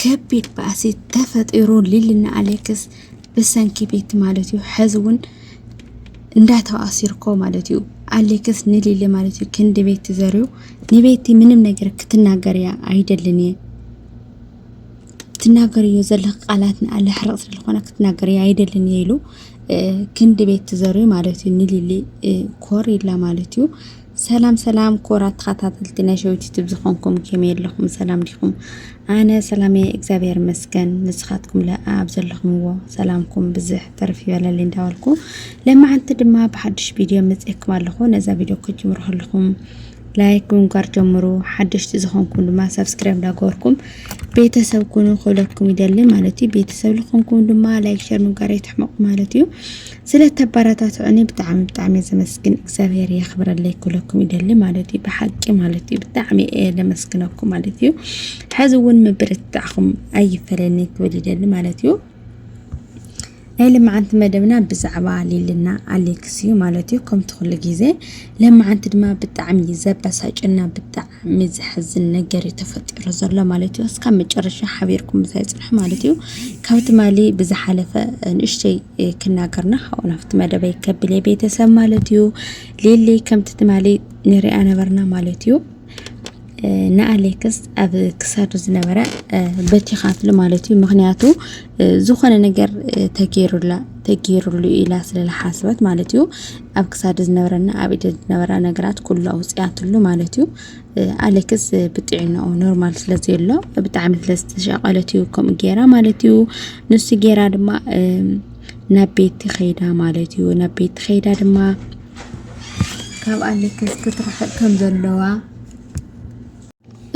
ከቢድ ባእሲ ተፈጢሩ ሊሊና ኣሌክስ ብሰንኪ ቤቲ ማለት እዩ ሕዚ እውን እንዳተባእሱ ይርከቡ ማለት እዩ ኣሌክስ ንሊሊ ማለት እዩ ክንዲ ቤቲ ዘርዩ ንቤቲ ምንም ነገር ክትናገር እያ ኣይደልን እየ ትናገር እዮ ዘለኽ ቃላት ንኣለ ሕርቕ ስለዝኾነ ክትናገር እየ ኣይደልን እየ ኢሉ ክንዲ ቤቲ ዘርዩ ማለት እዩ ንሊሊ ኮር ኢላ ማለት እዩ ሰላም ሰላም ኮራት ተኸታተልቲ ናይ ሸዊት ዩቱብ ዝኾንኩም ከመይ ኣለኹም ሰላም ዲኹም ኣነ ሰላም እየ እግዚኣብሔር ይመስገን ንስኻትኩም ለኣ ኣብ ዘለኹምዎ ሰላምኩም ብዝሕ ተርፍ ይበለል እንዳበልኩ ለማዓንቲ ድማ ብሓድሽ ቪድዮ መፅኤኩም ኣለኹ ነዛ ቪድዮ ክጅምሩ ከለኹም ላይክ ብምግባር ጀምሩ ሓደሽቲ ዝኾንኩም ድማ ሰብስክራይብ እንዳገበርኩም ቤተሰብ ኩኑ ክብለኩም ይደሊ ማለት እዩ ቤተሰብ ዝኾንኩም ድማ ላይክ ሸር ምግባር ይትሕመቑ ማለት እዩ ስለ ተባራታትዑኒ ብጣዕሚ ብጣዕሚ ዘመስግን እግዚኣብሔር የኽብረለይ ክብለኩም ይደሊ ማለት እዩ ብሓቂ ማለት እዩ ብጣዕሚ እየ ለመስግነኩም ማለት እዩ ሕዚ እውን ምብርትታዕኹም ኣይፈለኒ ክብል ይደሊ ማለት እዩ ናይ ልምዓንቲ መደብና ብዛዕባ ሊልና ኣሌክስ እዩ ማለት እዩ ከምቲ ኩሉ ግዜ ለምዓንቲ ድማ ብጣዕሚ ዘበሳጭና ብጣዕሚ ብጣዕሚ ዘሕዝን ነገር እዩ ተፈጢሩ ዘሎ ማለት እዩ። እስካብ መጨረሻ ሓቢርኩም ምሳይ ፅንሑ ማለት እዩ። ካብ ትማሊ ብዝሓለፈ ንእሽተይ ክናገርና ካብኡ ናብቲ መደበይ ከብል እየ ቤተሰብ ማለት እዩ። ሊሊ ከምቲ ትማሊ ንሪኣ ነበርና ማለት እዩ። ንኣሌክስ ኣብ ክሳዱ ዝነበረ በቲኻትሉ ማለት እዩ። ምክንያቱ ዝኾነ ነገር ተገይሩላ ተገይሩሉ ኢላ ስለ ዝሓሰበት ማለት እዩ ኣብ ክሳድ ዝነበረና ኣብ ኢደ ዝነበራ ነገራት ኩሉ ኣውፅኣትሉ ማለት እዩ ኣሌክስ ብጥዕናኡ ኖርማል ስለ ዘሎ ብጣዕሚ ስለ ዝተሻቐለት እዩ ከምኡ ገይራ ማለት እዩ ንሱ ገይራ ድማ ናብ ቤት ኸይዳ ማለት እዩ ናብ ቤት ኸይዳ ድማ ካብ ኣሌክስ ክትርሕቕ ከም ዘለዋ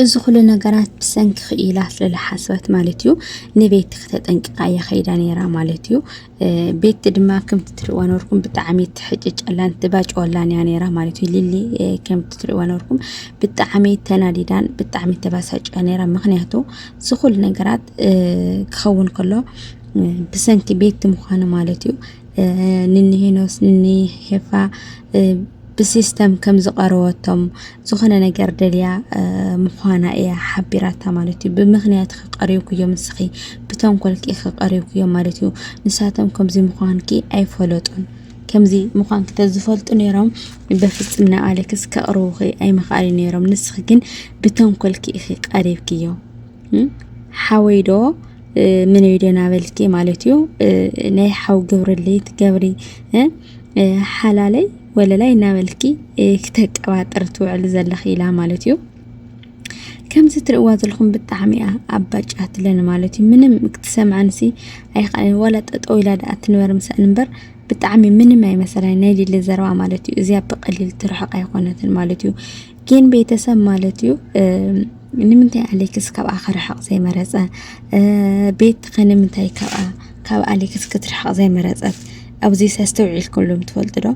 እዚ ኩሉ ነገራት ብሰንኪ ክኢላ ስለ ዝሓሰበት ማለት እዩ ንቤቲ ክተጠንቅቃ እያ ከይዳ ነይራ ማለት እዩ። ቤቲ ድማ ከምቲ ትርእዋ ነበርኩም ብጣዕሚ ትሕጭጨላን ትባጭወላን እያ ነይራ ማለት እዩ። ሊሊ ከምቲ ትርእዋ ነበርኩም ብጣዕሚ ተናዲዳን ብጣዕሚ ተባሳጭያ ነይራ። ምክንያቱ እዚ ኩሉ ነገራት ክኸውን ከሎ ብሰንኪ ቤቲ ምዃኑ ማለት እዩ ንንሄኖስ ንሄፋ ብሲስተም ከም ዝቐረወቶም ዝኾነ ነገር ደልያ ምዃና እያ ሓቢራታ ማለት እዩ። ብምኽንያት ከቀሪብኩዮም ንስኺ ብተንኮልኪ ከቀሪብኩዮም ማለት እዩ። ንሳቶም ከምዚ ምዃንኪ ኣይፈለጡን። ከምዚ ምዃንኪ ተዝፈልጡ ነይሮም በፍፅም ናብ ኣሌክስ ከቅርቡኺ ኣይምኽኣሉ ነይሮም። ንስኺ ግን ብተንኮልኪ ኢኺ ቀሪብክዮ ሓወይ ዶ ምን እዩ ደና በልኪ ማለት እዩ ናይ ሓው ግብርለይ ትገብሪ ሓላለይ ወለላይ እናበልኪ ክተቀባጥር ትውዕል ዘለኺ ኢላ ማለት እዩ ከምዚ ትርእዋ ዘለኹም ብጣዕሚ እያ ኣባጫ ትለን ማለት እዩ ምንም ክትሰምዐንሲ ኣይከኣልን ዋላ ጠጠው ኢላ ደኣ ትንበር ምስኣን እምበር ብጣዕሚ ምንም ኣይመሰላን ናይ ሊሊ ዘረባ ማለት እዩ እዚኣ ብቀሊል ትርሕቕ ኣይኮነትን ማለት እዩ ጌን ቤተሰብ ማለት እዩ ንምንታይ ኣሌክስ ካብኣ ክርሕቕ ዘይመረፀ ቤት ከ ንምንታይ ካብኣ ካብ ኣሌክስ ክትርሕቕ ዘይመረፀት ኣብዚ ኣስተውዒልኩሎም ትፈልጡ ዶ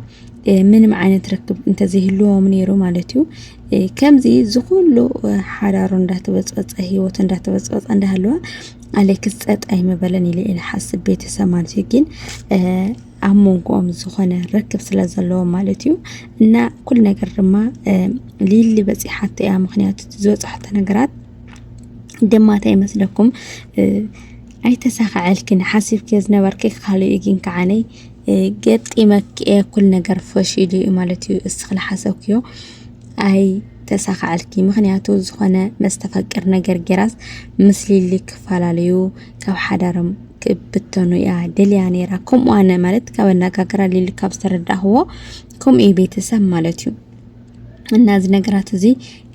ምንም ዓይነት ርክብ እንተዘይህልዎም ነይሩ ማለት እዩ ከምዚ ዝኩሉ ሓዳሩ እንዳተበፀፀ ሂወቱ እንዳተበፀፀ እንዳሃለወ ኣሌክስ ፀጥ ኣይምበለን ኢለ ኢለ ሓስብ ቤተሰብ ማለት እዩ ግን ኣብ መንጎኦም ዝኾነ ርክብ ስለ ዘለዎ ማለት እዩ እና ኩሉ ነገር ድማ ሊሊ በፂሓቶ እያ ምክንያቱ ዝበፅሐቶ ነገራት ድማ እንታይ ይመስለኩም ኣይተሳኸዐልክን ሓሲብክ ዝነበርክ ካልእ እዩ ግን ከዓነይ ገጢመክ እየ ኩሉ ነገር ፈሽሉ እዩ ማለት እዩ እስኺ ዝሓሰብክዮ ኣይ ተሳኸዐልኪ ምክንያቱ ዝኾነ መስተፈቅር ነገር ጌራስ ምስ ሊሊ ክፈላለዩ ካብ ሓዳሮም ክብተኑ እያ ደልያ ነይራ ከምኡ ኣነ ማለት ካብ ኣነጋግራ ሊሊ ካብ ዝተረዳእኽዎ ከምኡ እዩ ቤተሰብ ማለት እዩ እና እዚ ነገራት እዚ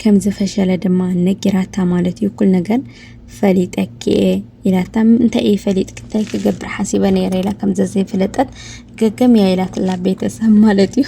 ከም ዝፈሸለ ድማ ነጊራታ ማለት እዩ እኩል ነገር ፈሊጠኪ እየ ኢላታ እንታይ እዩ ፈሊጥኪ እንታይ ክገብር ሓሲበ ነይረ ኢላ ከም ዘዘይፈለጠት ገገም እያ ኢላትላ ቤተሰብ ማለት እዩ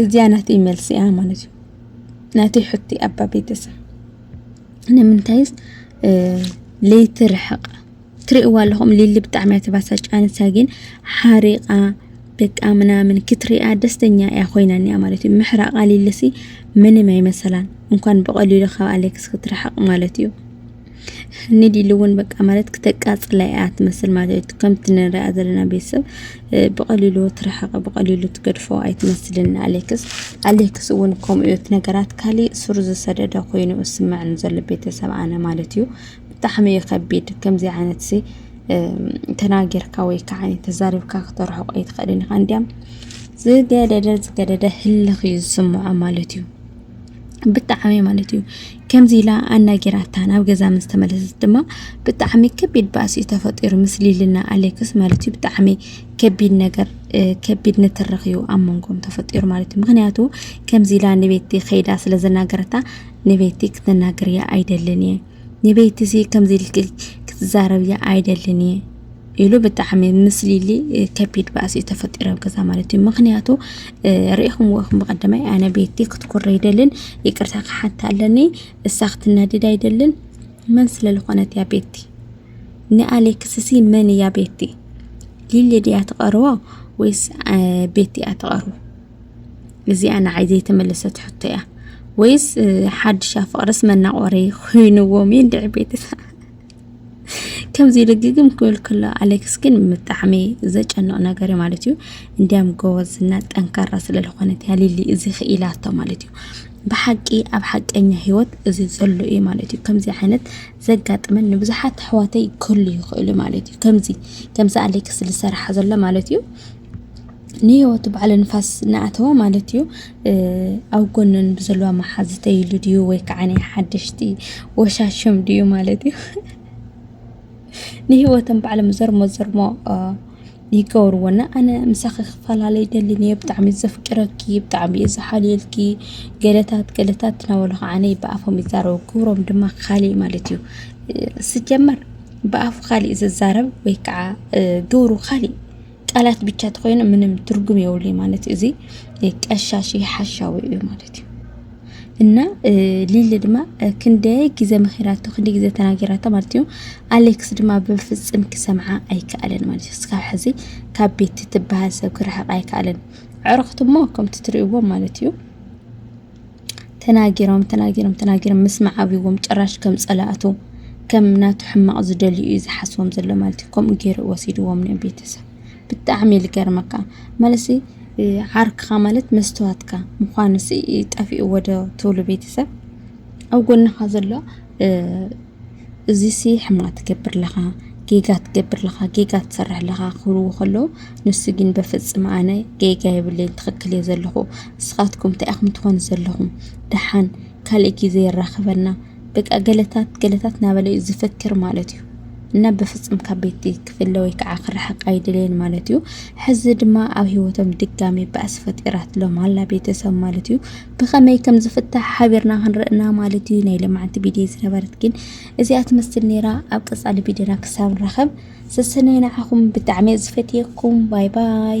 እዚኣ ናተይ መልሲ እያ ማለት እዩ ናተይ ሕቶ ኣባ ቤተሰብ ንምንታይስ ለይቲ ርሕቕ ትርእዋ ኣለኹም ሊሊ ብጣዕሚ እያ ተባሳጫን ንሳ ግን ሓሪቓ በቃ ምናምን ክትሪኣ ደስተኛ እያ ኮይና እኒኣ ማለት እዩ ምሕራቓ ሊልሲ ምንም ኣይመሰላን እንኳን ብቐሊሉ ካብ ኣሌክስ ክትርሕቕ ማለት እዩ ኒድ ኢሉ እውን በቃ ማለት ክተቃፅላ እያ ትመስል ማለት እዩ። ከምቲ ንሪኣ ዘለና ቤተሰብ ብቐሊሉ ትረሓቐ ብቐሊሉ ትገድፎ ኣይትመስልን ኣሌክስ። ኣሌክስ እውን ከምኡ እዩ ነገራት ካሊእ ሱር ዝሰደደ ኮይኑ ዝስምዐኒ ዘሎ ቤተሰብ ኣነ ማለት እዩ። ብጣዕሚ እዩ ከቢድ ከምዚ ዓይነት ሲ ተናጊርካ ወይ ከዓ ተዛሪብካ ክተርሕቆ ኣይትኽእልን ኢኻ እንዲያም ዝገደደ ዝገደደ ህልኽ እዩ ዝስምዖ ማለት እዩ። ብጣዕሚ ማለት እዩ ከምዚ ኢላ ኣናጊራታ ናብ ገዛ ምስ ተመለሰት ድማ ብጣዕሚ ከቢድ ባእሲ እዩ ተፈጢሩ ምስ ሊልና ኣሌክስ ማለት እዩ ብጣዕሚ ከቢድ ነገር ከቢድ ንትርኽ እዩ ኣብ መንጎም ተፈጢሩ ማለት እዩ ምክንያቱ ከምዚ ኢላ ንቤቲ ከይዳ ስለ ዘናገረታ ንቤቲ ክትናገር እያ ኣይደልን እየ ንቤቲ እዚ ከምዚ ኢልኪ ክትዛረብ እያ ኣይደልን እየ ኢሉ ብጣዕሚ ምስ ሊሊ ከቢድ ባእሲ እዩ ተፈጢሩ ኣብ ገዛ ማለት እዩ ምክንያቱ ርኢኹምዎ ኢኹም ብቀዳማይ ኣነ ቤቲ ክትኩር ኣይደልን ይቅርታ ክሓታ ኣለኒ እሳ ክትናደድ ኣይደልን መን ስለ ዝኾነት እያ ቤቲ ንኣሌክስሲ መን እያ ቤቲ ሊሊ ድያ ትቐርቦ ወይስ ቤቲ እያ ትቐርቦ እዚኣ ንዓይ ዘይተመለሰት ሕቶ እያ ወይስ ሓድሻ ፍቅርስ መናቆሪ ኮይንዎም ይንድዒ ቤትታ ከምዚ ኢሉ ግግም ክብል ከሎ ኣሌክስ ግን ብጣዕሚ ዘጨንቕ ነገር እዩ ማለት እዩ እንዲያም ጎበዝና ጠንካራ ስለ ዝኾነት እያ ሊሊ እዚ ክኢላቶ ማለት እዩ ብሓቂ ኣብ ሓቀኛ ሂወት እዚ ዘሎ እዩ ማለት እዩ ከምዚ ዓይነት ዘጋጥመን ንብዙሓት ኣሕዋተይ ክህሉ ይኽእሉ ማለት እዩ ከምዚ ከምዚ ኣሌክስ ዝሰርሓ ዘሎ ማለት እዩ ንህይወቱ ባዕለ ንፋስ እናኣተወ ማለት እዩ ኣብ ጎነን ብዘለዋ መሓዝተይ ኢሉ ድዩ ወይ ከዓ ናይ ሓደሽቲ ወሻሽም ድዩ ማለት እዩ ንህይወተን ባዕሎም ዘርሞ ዘርሞ ይገብርዎና ኣነ ምሳኺ ክፈላለ ይደልን እየ ብጣዕሚ ዘፍቅረኪ ብጣዕሚ እየ ዝሓልየልኪ ገለታት ገለታት እናበሉ ከዓ ብኣፎም ይዛረቡ ግብሮም ድማ ካሊእ ማለት እዩ ስጀመር ብኣፉ ካሊእ ዝዛረብ ወይ ከዓ ግብሩ ካሊእ ቃላት ብቻ ተኮይኑ ምንም ትርጉም የብሉይ ማለት እዩ። እዚ ቀሻሺ ሓሻዊ እዩ ማለት እዩ። እና ሊሊ ድማ ክንደይ ግዜ መኺራቶ ክንደይ ግዜ ተናጊራቶ ማለት እዩ። ኣሌክስ ድማ ብፍጽም ክሰምዓ ኣይከኣለን ማለት እዩ። እስካብ ሕዚ ካብ ቤት ትበሃል ሰብ ክርሕቕ ኣይከኣለን። ዕርኽቲ እሞ ከምቲ ትርእይዎ ማለት እዩ። ተናጊሮም ተናጊሮም ተናጊሮም ምስማዕ ኣብይዎም ጭራሽ ከም ጸላእቱ ከም ናቱ ሕማቕ ዝደልዩ እዩ ዝሓስቦም ዘሎ ማለት እዩ ከምኡ ገይሩ ወሲድዎም ን ቤተሰብ ብጣዕሚ እዩ ዝገርመካ ማለት ዓርክኻ ማለት መስትዋትካ ምዃኑ ጠፊእዎ ዶ ትብሉ ቤተሰብ ኣብ ጎንኻ ዘሎ እዚሲ ሕማቅ ትገብር ኣለኻ ጌጋ ትገብር ኣለኻ ጌጋ ትሰርሕ ኣለኻ ክብልዎ ከለዉ ንሱ ግን በፍጽም ኣነ ጌጋ የብለይን ትኽክል እየ ዘለኹ ንስኻትኩም እንታይ ኢኹም ትኾኑ ዘለኹም ደሓን ካልእ ግዜ የራኽበና በቃ ገለታት ገለታት እናበለ እዩ ዝፍክር ማለት እዩ እና በፍጽም ካብ ቤት ክፍለ ወይ ከዓ ክርሕቅ ኣይድልን ማለት እዩ ሕዚ ድማ ኣብ ሂወቶም ድጋሚ ባእሲ ፈጢራትሎም ኣላ ቤተሰብ ማለት እዩ ብኸመይ ከም ዝፍታሕ ሓቢርና ክንርኢ እና ማለት እዩ። ናይ ለማዓንቲ ቢድዮ ዝነበረት ግን እዚኣ ትመስል ነይራ። ኣብ ቀጻሊ ቢድዮና ክሳብ ንራኸብ ሰሰነይ ንዓኹም ብጣዕሚ ዝፈትየኩም ባይ ባይ።